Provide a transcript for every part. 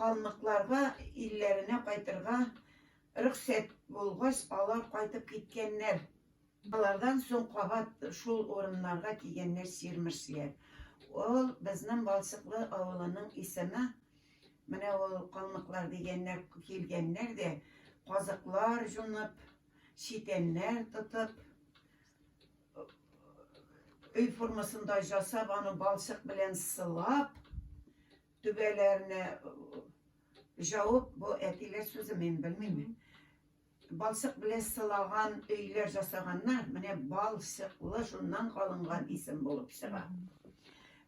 Калмыкларга илләренә кайтырга рөхсәт булгач, алар кайтып киткәннәр. Алардан соң кабат шул урыннарга килгәннәр сирмерсләр. Ул безнең Балчыклы авылының исеме. Менә ул калмыклар дигәннәр килгәннәр дә казыклар җунып, читәннәр тотып, өй формасында жасап, аны балчык белән сылап, Түбәләрне җауып, бу әтиләр сүзе мин белмим. Балчык белән сылаган өйләр жасаганнар. Менә балчыклы шуннан калынган исем булып чыга.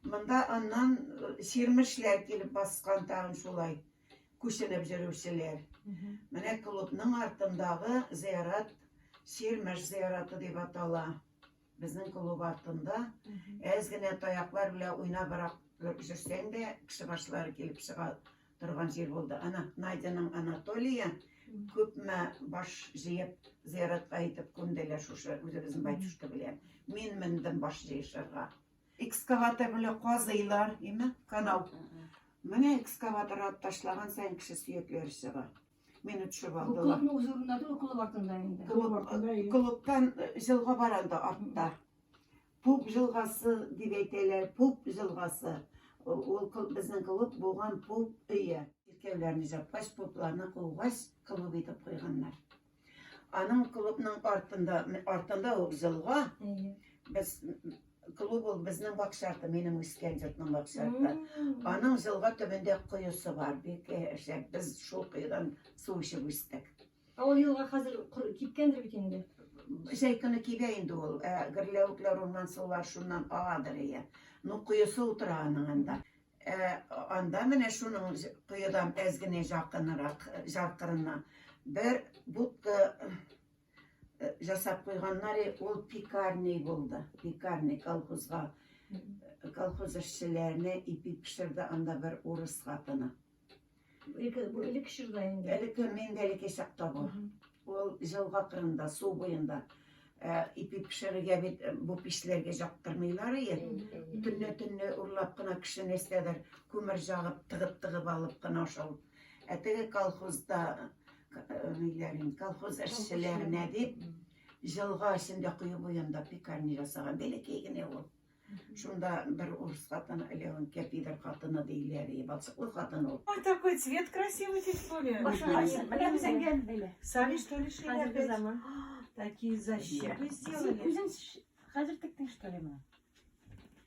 Монда аннан чирмешләр килеп баскан тагын шулай күченеп йөрүчеләр. Менә клубның артындагы зыярат чирмеш зыяраты дип атала. Безнең клуб артында әз генә таяклар белән уйнабрак йөрсәң дә, кеше башлары килеп чыга торган җир булды. Ана Надяның Анатолия күпме баш җыеп зыяратка итеп күмделәр шушы үзебезнең батюшка белән. Мин мендем баш җыешырга. Экскаватор белән казыйлар, име, канал. Менә экскаватор атып ташлаган саен кеше сөякләре чыга. Мине төшеп Бу алдылар. клубның үз урында түгел, клуб артында инде. Клуб артында и- Клубтан э, җылга бар анда артта. Пуп җылгасы дип әйтәләр, пуп җылгасы. Ул ул клуб, безнең клуб булган пуп өе. Чиркәүләрне җапкач, пупларны кугач, клуб итеп куйганнар. Аның клубның артында, артында ук җылга, Әйе. без Клуб ул безнең бакча арты, минем үскән йортның бакча арты. Аның җылга төбендә коесы бар, бик шәп. Без шул коедан су эчеп үстек. Ә ул елга хәзер кипкәндер бит инде. Җәй көне кибә инде ул. Ә гөрләвекләр, урман сулар шуннан агадыр ия. Ну, коесы утыра аның анда. Ә анда менә шуның коедан әз генә якынрак, җаркырына бер будка жасап куйганнар ул пекарный булды пекарный колхозга колхоз эшчеләренә ипи пешерде анда бер урыс хатыны элек чорда инде элек мин дә элекке чакта бу ул җылга кырында су буенда ипи пешерергә бит бу печләргә жактырмыйлар ие төнлә төнлә урлап кына кеше нәрсәдер күмер жагып тыгып тыгып алып кына шул ә теге колхозда Ниләрен, колхоз эшчеләренә дип, җылга эчендә кое буенда пекарня ясаган, бәләкәй генә ул. Шунда бер урыс хатыны, Леон Кепидер хатыны диләр, и балчыклы хатын ул. Ой, такой цвет красивый тип сөйлә. Менә без әнгә бәйле. Сами что ли шәйләр бит? Такие защипы сделали. Үзең хәзер тектең что ли моны?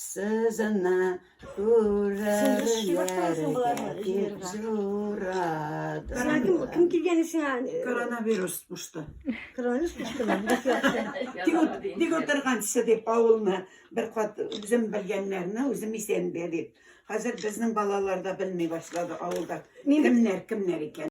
Сызына Кем килгән сиңа? Коронавирус пушты. Коронавирус пушты. Тик отырган кеше дип авылны бер кат үзем белгәннәрне үзем исән дип. Хәзер безнең балалар да белми башлады авылда. Кемнәр, кемнәр икән.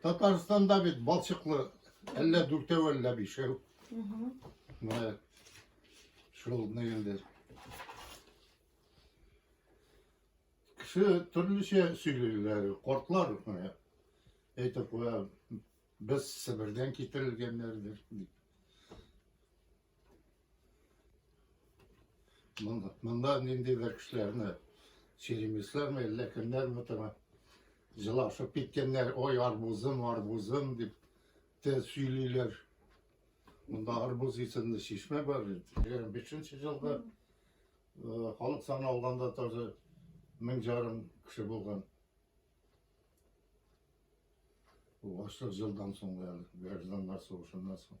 Татарстанда бит балчыклы әллә дүртәү, әллә бишәү. Менә шул нигендә. Кеше төрлечә сөйлиләр, кортлар менә. Әйтеп куя, без Себердән китерелгәннәрдер дип. Монда ниндидер кешеләрне сөйлимесезме, әллә кемнәрме тора? Җылашып киткәннәр, ой, арбузым, арбузым дип те сөйлиләр. Монда арбуз исемле чишмә бар. 25-нче елда э, халык саны алганда тоже мең жарым кеше булган. Бу ашлык жылдан соң әле, гражданнар сугышыннан соң.